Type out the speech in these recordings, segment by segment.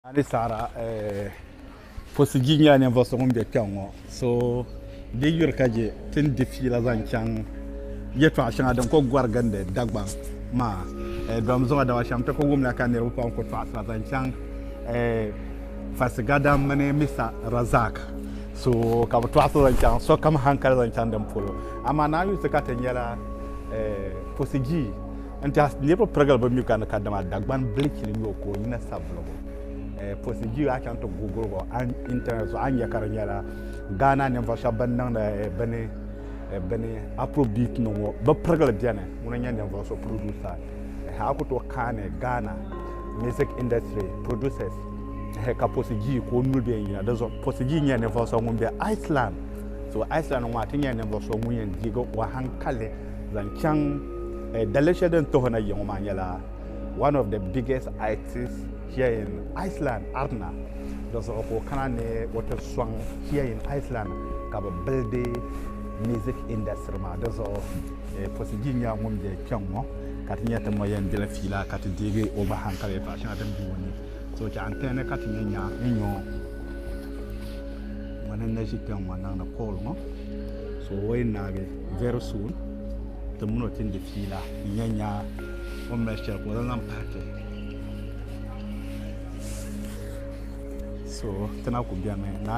A ni saɣira pusi di nyɛla ninvuɣu so ŋun bɛ kpɛŋ ŋɔ so di yuri ka je ti ni di fiila zaŋ chaŋ yɛtɔɣa shɛŋa din ko gɔri gindi Dagbaŋ maa dɔm zuɣu dama shɛm ti ku wumla ka niriba pam ku tɔɣisira zaŋ chaŋ Fasigadam mini Mista Razak so ka bi tɔɣisira zaŋ chaŋ sokam hankali zaŋ chaŋ din polo amaa naayusi ka ti nyɛla pusi jii N tiɛhi niriba pirigili bi mi ka ni kadama Dagban bilichili nyɔ ka o yina savuligu eh, procedure a chaŋ ti guguligu internet zuɣu a nya ka di nyɛla Ghana ninvuɣu shɛba bin niŋdi eh, bini eh, bini afrobeat ni ŋɔ bi pirigili bɛni ŋuna nyɛ ninvuɣu so producer eh, a ku tooi kaani Ghana music industry producers eh, ka procedure ka o nuli bɛ n yina di zuɣu procedure nyɛla ninvuɣu so ŋun bɛ Iceland so Iceland ŋɔ a ti nyɛla ninvuɣu so ŋun yɛn diigi o hankali zaŋ chaŋ eh, dalili shɛli din tuhi na yiŋɔ maa nyɛla one of the biggest itis here in Iceland Arna di zuɣu ka o kana ni o ti sɔŋ here in Iceland ka bi bildi music industry maa di zuɣu eh, pusi ji nyɛla ŋun bɛ kpɛŋ ŋɔ ka ti nyɛ ti mo yɛn dila fiila ka ti deegi o gba hankali yɛtɔɣa shɛŋa din bɛ o ni so chɛ n tɛni ka ti nyɛ nya n nyɔ ŋɔ ni na ʒi kpɛŋ ŋɔ niŋdi kɔɔl ŋɔ so o yɛn naagi Very soon, ti mini o tindi fiila nya nya o ni mali shɛli ka o zaŋ zaŋ pahi ti. So, ti na ku bemi na.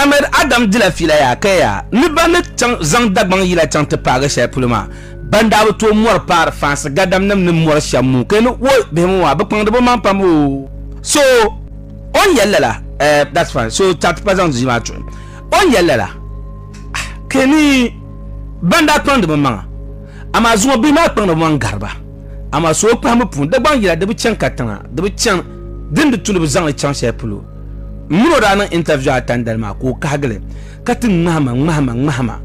Ahmed Adam dila fiila yaa ka yaa ni ban ni chaŋ zaŋ Dagbaŋ yila chaŋ ti paagi shɛli polo maa, ban daa bi tooi mɔri paari fansi gadamnim ni mɔri shɛm moo ka yi ni woi bihi ŋɔ maa bɛ kpaŋdi bɛ maŋ pam oo. So o ni yɛli lala eh that's fine so chaŋ ti pa zaŋ di maa tuhi o ni yɛli lala ah ka yi ni ban daa kpaŋdi bɛ maŋa amaa zuŋɔ bihi maa kpaŋdi bɛ maŋ gari ba. amaa suhukpahimbu puuni Dagbaŋ yila di bi chani katiŋa di bi chani dini di tulibu zaŋli chaŋ shɛli polo m mini o daa niŋ interview a tandali maa ka o kahigili ka ti ŋmahima ŋmahima ŋmahima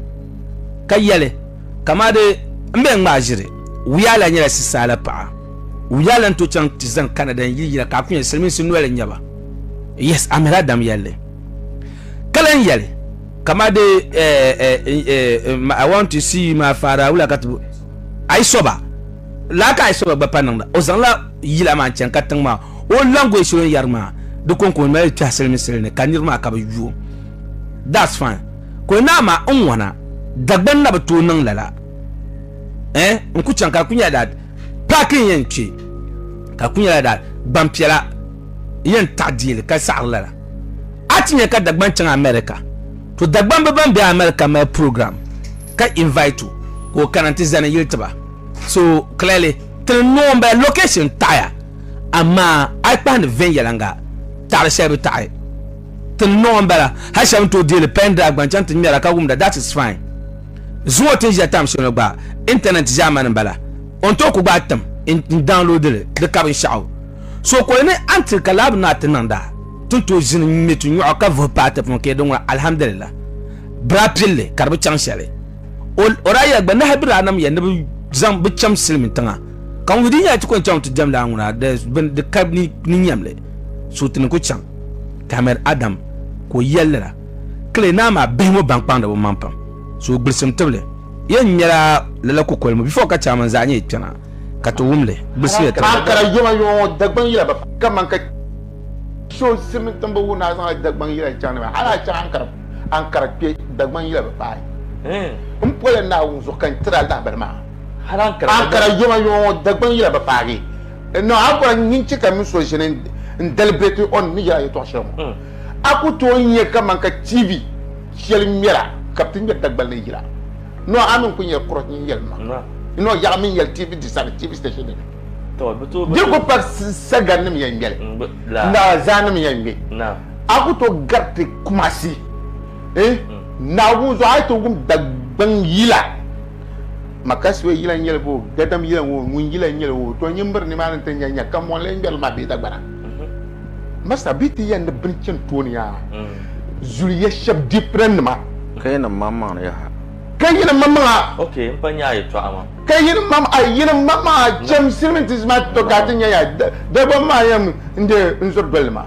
ka yɛli kamaa di m bɛn ŋmaa ʒiri wuyaa la nyɛla sisaala paɣa wuyaa la n to chaŋ ti zani Canada n yili yila ka a kuli nyɛ silimiinsi noli n nyɛba yes Amir Adam yɛlli ka lan yɛli kamaa di eh, eh, eh, eh, I want to see you my father wula ka ti Ayisoba laa ka Ayisoba gba pa niŋda o zaŋla yila maa n-chani ka tiŋ maa o language o ni yɛri maa di kon ko mali kpɛhi sili ni sili ni ka niriba maa ka bi yuo that's fine ko naa ma n ŋɔna Dagbani na bi tooi niŋ lala eh n ku chaŋ ka ku nyɛla that paaki n yɛn kpe ka ku nyɛla that gbampiɛla yɛn taɣi deeli ka saɣiri lala a ti nya ka Dagbani chaŋ America to Dagbambi ban be America mali program ka invite o ka o kana nti zani yili tiba so clearly ti ni noo m-bala location taɣiya amaa a yi kpahindi viɛnyɛliŋga taɣiri shɛli bi taɣi ti ni noo m-bala hali shɛba ni tooi deeli pen drive gba n-chaŋ ti ŋmɛra ka wumda that is fine zuŋ o ti ni ʒiya time shɛli ŋɔ gba internet ʒiɛmani m-bala o ni tooi ku gbaai tim n-download li di ka binshɛɣu so ka o ni until ka lab naa ti niŋda ti ni tooi ʒini n-ŋme tunyɔɣu ka vuhi paai ti puuni ka yɛli din ŋuna alhamdulillah bira pilli ka di bi chaŋ shɛli o daa yɛli gba nahi bi daa nam ya ni bi zaŋ bi chɛm silimi tiŋa ka ŋun di nyɛla ti kɔni chaŋ ti diɛm daa ŋuna di ka ni nyɛmli so ti ni ku chaŋ Ahmed Adam ka o yɛli lala kili naa maa bihi ŋɔ ban kpaŋdi bi maŋ pam so gbilisim tibili yɛn nyɛla lala kukoli mu bifo ka chairman zaa nyɛ kpɛna ka ti wumli gbilisiya tibili. Ankara yoma yoma ŋɔ Dagbaŋ yila bi kaman ka so silimiintiŋbu wuhi ni a zaŋla Dagbaŋ yila chaŋ ni ba hali a chaŋ Ankara. Ankara kpe Dagban yila bi paai. N pɔla Naawuni zuɣu ka n tiri a lahabali maa. Ankara yoma yoma ŋɔ Dagban yila bi paagi. Noo Ankara n yin chɛ ka mini so ʒini n dali bɛ ti o ni yɛl a yɛtɔɣ shɛli ŋɔ. A ku tooi nya kaman ka TV shɛli ŋmɛra ka bɛ ti ŋmɛri Dagban ni yila. Noo a mi n ku nyɛla kurɔch nyin yɛli ma. Noo yaɣi mi n yɛli TV di sani TV station di ni. Di ku pari Sagannim yɛn ŋmɛli ni Azaannim yɛn ŋmɛ. A ku tooi gariti Kumasi eh, Naagu zuɣu a yi tooi wum Dagbaŋ yila, Makaswe yila n-nyɛli boo, Gadam yila ŋɔ, Ŋun yila n-nyɛli ŋɔ, to nyimbiri nimaani nti nya nya ka mɔɣili ŋmɛrili maa bee Dagbana. Masta bɛ ti yɛn ni bini chani tooni yaa zuli ya shɛb dippinan nima. Ka yɛn ni maŋ maŋli yaha. Ka yɛn ni maŋ maŋa. Ok n pa nyaa yɛtɔɣa maa. Ka yɛn ni maŋ a yɛn ni maŋ maŋa cham silimiintiisi maa ti to ka a ti nya yaa Dagbaŋ maa yɛn n-deei n zuri doli li maa.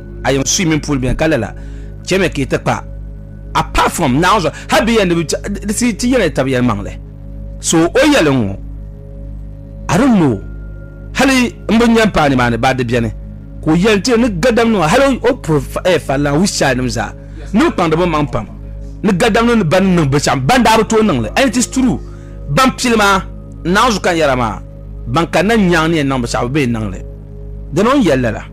a yin sui mini puuli bɛni ka lala chɛmi ka yi ti kpa apart from naawuni zuɣu hali bɛ yɛli ni ti ti yɛli tabi yɛli maŋli so o yɛli ŋɔ I don't know hali n bi nyɛ paani maa ni ba di bɛni ka o yɛli ti ni gadam nima hali o puri falla which side nim zaa ni bi kpaŋdi bi maŋ pam ni gadam ni ba ni niŋ bi shɛm ban daa bi tooi niŋli and it is true ban pili maa naawuni zuɣu ka n yɛra maa ban kanna nyaaŋ ni yɛn niŋ bi shɛm bi bi yɛn niŋli dina o ni yɛli lala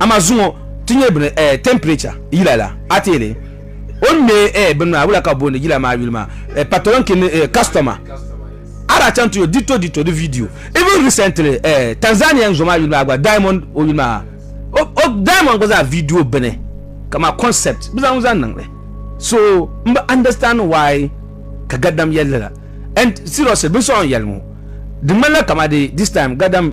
Ama zuŋɔ ti nyɛ bini eh, temperature yila la. A ti yɛli o ni me eh, bini maa, wula ka bɛ booni yila maa yuli maa? Eh, patolonki ni eh, customer. A daa chaŋ ti yo dito dito di video. Even recently eh, Tanzanian zo maa yuli maa gba, Diamond o yuli maa, o, o, Diamond gba zaa video bini, ka maa concept bɛ zaŋ zaŋ niŋli. So, m bi understand why ka Gadam yɛli lala. And seriously, binsɔɣu n yɛli ŋɔ, di ŋmanila kamadi this time Gadam.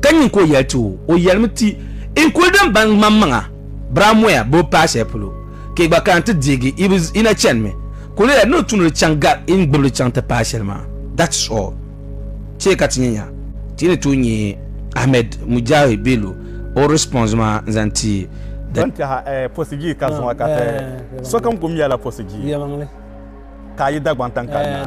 ka nyin ka o yɛli ti o, o yɛlimi ti, N kuli din baŋ ŋmaŋmaŋa biramuya bɛ o paai shɛli polo, ka yi gba kana ti deegi yi bi yi na chanimi. Kuliya ni o tumdi li chaŋ gari yi ni gbibi li chaŋ ti paai shɛli maa. That is all. Chɛ ka ti nya nya ti yi ni tooi nya Ahmed Mujahid Bello o response maa n-zaŋ ti the. Ban kpɛha Posigii ka zuŋɔ ka ti, Sokam kum yɛla Posigii, ka a yi Dagbaŋ taŋkali naa.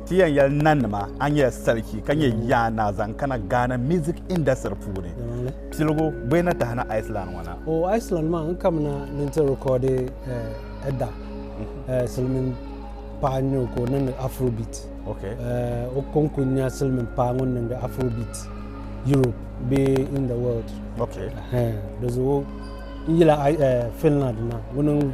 Ti yɛn yɛli nanima a nyɛla salichi ka nyɛ Yaa Naa zaŋ kana Ghana music industry puuni. Piligu bɔ yi na tahina Iceland ŋɔ na? O Iceland maa n kamina ni n ti recordi eh, Edda eh, silmin paɣa n nyɛ o ka o niŋdi afrobeat. Okay. Eh, o ko n kuli nya silmin paɣa ŋun niŋdi afrobeat Europe bee in the world. Okay. Eh, di zuɣu n yila I- eh, Finland na ŋuni n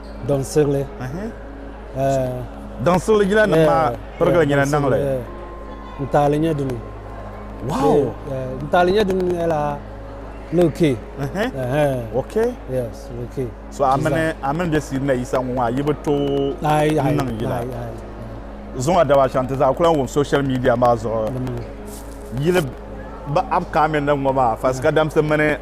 Daŋsigili. Daŋsigili jina nim maa pirigili nyina naŋli. N taali nyɛ dini. Wow. N taali nyɛ dini nyɛla Lil K. Ok. Yes, Lil K. So a mini a mini bɛ siiri na yisa ŋɔ ŋɔ a yi bi to n niŋ yila. Zuŋ a daba shɛŋa ti zaa kula wum social media maa zuɣu yili bi upcoming nim ŋɔ maa Fasikadamsi mini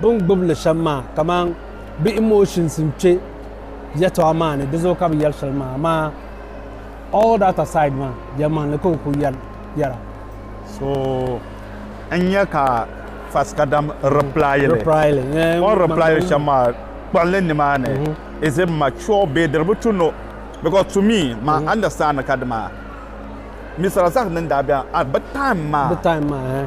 Bɛ ni gbibi li shɛm maa, kaman bɛ emotions n-kpe yɛtɔɣa maa ni, di zuɣu ka bɛ yɛri shɛli maa. Amaa all that aside maa, yɛlimaŋli ka o kuli yɛra. So n-nya ka Fasikadam reply li. O ni reply li shɛm maa, kpuɣi li nimaani, is it mature bee diri bi tu no? Because to me, ma understand ni kadama Mister Razak ni ni daa be a, bɛ time maa.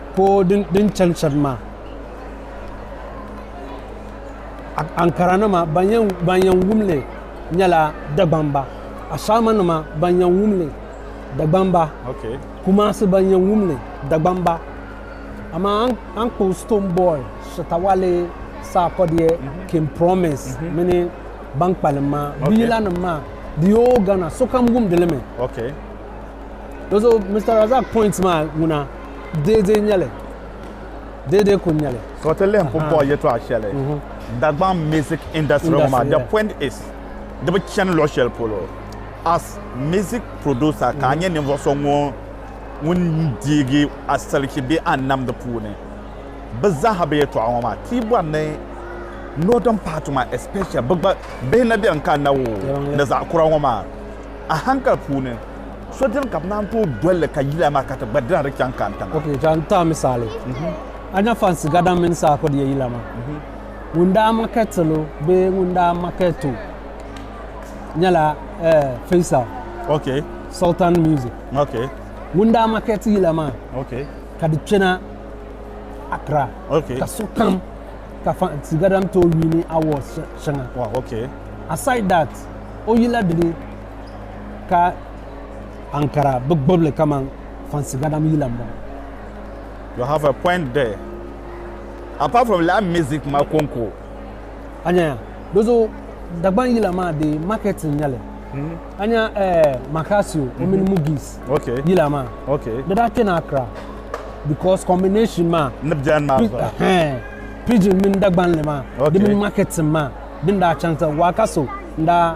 Poor din chani shɛba maa ankaranima ban yɛn wumli nyɛla Dagbamba Ashaamanima ban yɛn wumli Dagbamba Kumasi ban yɛn wumli Dagbamba amaa a ni kpuɣi Stonebwoy Shatta Wale Sarkodie mhm. King Promise mhm. mini ban kpalim maa bɛ yilanima maa di yoo Ghana sokam wumdi li mi di zuɣu Mister Razak point maa ŋuna deedee nyɛli. Deedee kul nyɛli. So ti lihi pumpɔɣu yɛtɔɣa shɛli Dagbaŋ music industry ŋɔ maa, the point is di bi chani luɣ shɛli polo. As music producer ka a nyɛ ninvuɣ so ŋun deegi asalichi bee anam di puuni. Bɛ zaa ha bɛ yɛtɔɣa ŋɔ maa ti bɔri ni northern part maa especially bɛ gba bihi na beni ka na woo ni zaɣ kura ŋɔ maa a hankali puuni So dini ka bɛ naan tooi doli li ka yila maa ka ti gba dira di chaŋ ka n-tiŋa? Ok, ka n ti a misali. A nya fansi gadan mini saha kudi ya yila maa. Ŋun daa makɛtil o bee ŋun daa makɛt o nyɛla Faisal. Ok. Sultan Music. Ok. Ŋun daa makɛt yila maa. Ok. Ka di kpɛna Accra. Ok. Ka sokam ka fansi gadan tooi wiini awards shɛŋa. Wow, ok. Aside that, o yila dini ka ankara bi gbubili kaman fansi gadam yila m-bɔŋɔ. You have a point there. Apart from live music ma konko. A nya ya. Dozo Dagban yila maa di market n-nyɛli. Hmm. A nya eh, Makasio o mini mhm. Mugis yila maa. Di daa kpɛna Accra because combination maa. Ni biɛni maa zuɣu. Pidgin mini Dagbanli maa. Di mini market maa. Din daa chaŋ ti Wakaso n-daa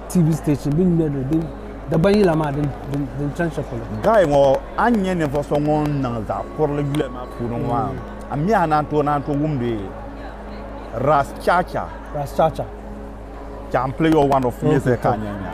TV station din nyɛ din Dagban yila maa din din chan shɛli polo. Guy ŋɔ a ni nyɛ ninvuɣu so ŋun niŋ zaɣ kurili yuli maa puuni ŋɔ maa a mi a naan tooi naan tooi wumdi Ras Chacha. Ras Chacha. Ka n play your one of music ka nyɛ nya.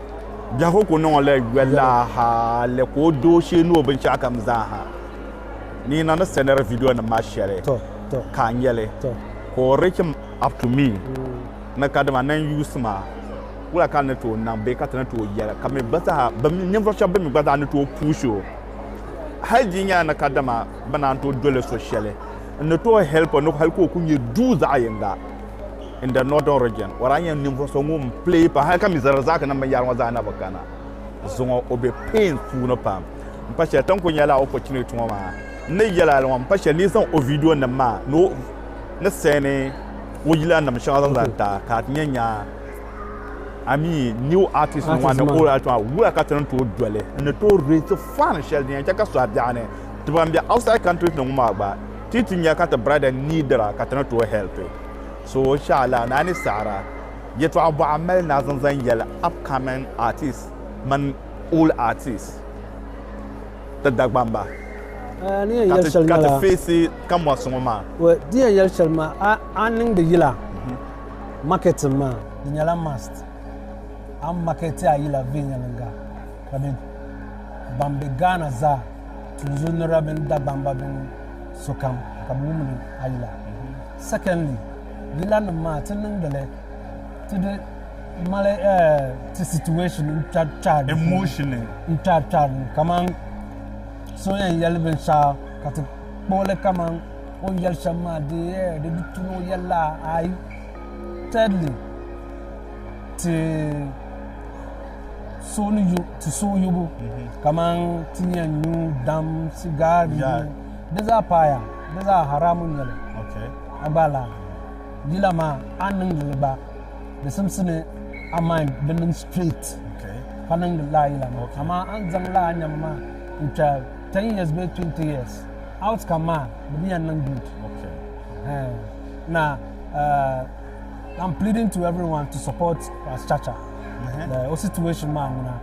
Biɛhigu ku niŋɔla yolaa hali ka o doo shee ni o binshɛɣukam zaaha. Ni yi na ni sɛniri vidiyonim maa shɛli ka a nya li, ka o reach up to me ni kadama na n-yuusi ma, wula ka n ni tooi niŋ bee ka ti ni tooi yɛli ka mi gba zaa ninvuɣ shɛb bɛn mi gba zaa ni tooi push o? Hali di nyɛla ni kadama bɛ naan tooi doli so shɛli, n ni tooi help o ni hali ka o kuli nyɛ duu zaɣ yiŋga. in the northern region wara nya ninvuɣ so ŋun pili pam hali ka mi zarazaaknim binyɛra ŋɔ zaa na bi kana zuŋɔ o be pain puuni pam m pa shɛli ti ni kuli nyɛla opportunity ŋɔ maa n ni yɛl a li ŋɔ m pa shɛli ni yi zaŋ o vidiyonim maa ni o ni sɛni o yilanim shɛŋa zaŋ zaŋ ta ka a ti nya nya I mean new artist nim maa ni old artist maa wula ka ti ni tooi doli n ni tooi raise fund shɛli din yɛn chɛ ka sɔhi biɛɣuni ti ban be outside countries ni ŋɔ maa gba Ti ti nya ka ti brada needira ka ti ni tooi help so sha la ni a ni saɣira yɛtɔɣa bɔɣa mali ni a zaŋ zaŋ yɛli upcoming artists mini old artists ti Dagbaŋ ba ka ti feesi kamɔnsi ŋɔ maa. Well, di yɛn yɛli shɛli maa a ni niŋdi yila marketing maa di nyɛla must a marketi a yila viɛnyɛliŋga. Ka bɛ ban be Ghana zaa, Tunzu ni Rabin Dagbamba mini sokam ka bɛ wumdi a yila. Secondly, yilanim maa ti niŋdi li ti di mali ti situation n-kpɛri kpɛri di puuni n-kpɛri kpɛri li kaman so yɛn yɛli binshɛɣu ka ti kpuɣi li kaman o ni yɛli shɛm maa dee di di tu ni o yɛli la ayi. Thirdly, ti suhuyubu kamani ti yɛn nyu dam sigaar di zaa paaya di zaa haraamu n-nyɛli a gba laa dila maa a ni niŋdi li gba di simsimi a main di niŋ sitriit ka niŋdi lala yila maa amaa a ni zaŋ lala nɛma maa n-kpe tɛn yiɛs bee tuwɛnti yiɛs awutkam maa di bi yɛn niŋ guud I'm pleading to everyone to support us Chacha. Mm-hmm. Uh, o situation maa ŋuna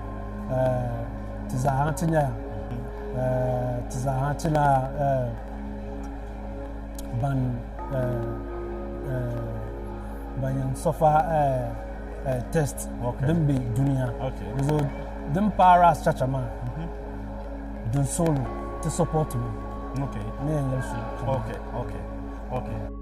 uh, ti zaaha ti nyɛla mm-hmm. uh, ti zaaha ti la uh, ban uh, uh, ban yɛn sɔfa uh, uh, test okay. din be duniya okay. so din paara as Chacha maa mm-hmm. din solo ti support me okay. ne yɛn yɛli su okay. okay. okay.